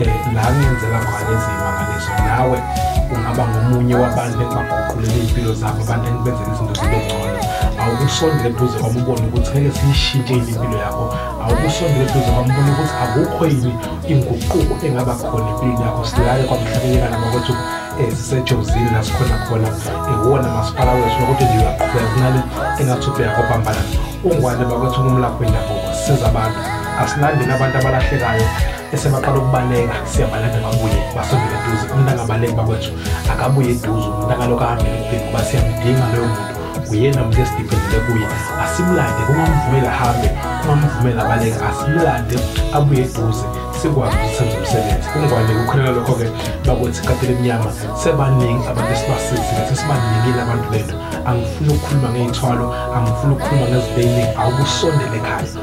um la ngenzela khona eziyimangaliso nawe ungaba ngomunye wabantu engibaguqulele iy'mpilo zabo abantu engibenzela izinto zibe ngcono awukusondele eduze kwami ubone ukuthi ngeke siyishintshe yini impilo yakho awukusondele eduze kwami ubone ukuthi akukho yini inguquko engaba khona empilweni yakho silale kwamhlabeleka nama kwethu um sisejozini la sikhona khona iwona masipala wethu nokuthi nje uyaqhubeka kunale engathi ubhekakho phambana ungwane bakwethu ngumlapho wendabuko siza abantu asilandeni abantu abalahlekayo esebaqala ukubaleka siyabalanda babuye basondele eduze umuntu angabaleki bakwethu akabuye eduze umuntu akalokhu ahambele ukubheka uba siyamdinga loyo muntu uyena muntu esidiphendele kuye asimlande kungamvumeli ahambe kungamvumeli abaleke asimlande abuye eduze sikwazi ukuthi senze umsebenzi kungwane kukhuleka lokho-ke bakwethu ikatela emnyama sebaningi abantu esibasizile sesibaningile abantu bethu angifuni ukukhuluma ngey'thwalo angifuni ukukhuluma ngezinto ey'ningi awubusondele ekhaya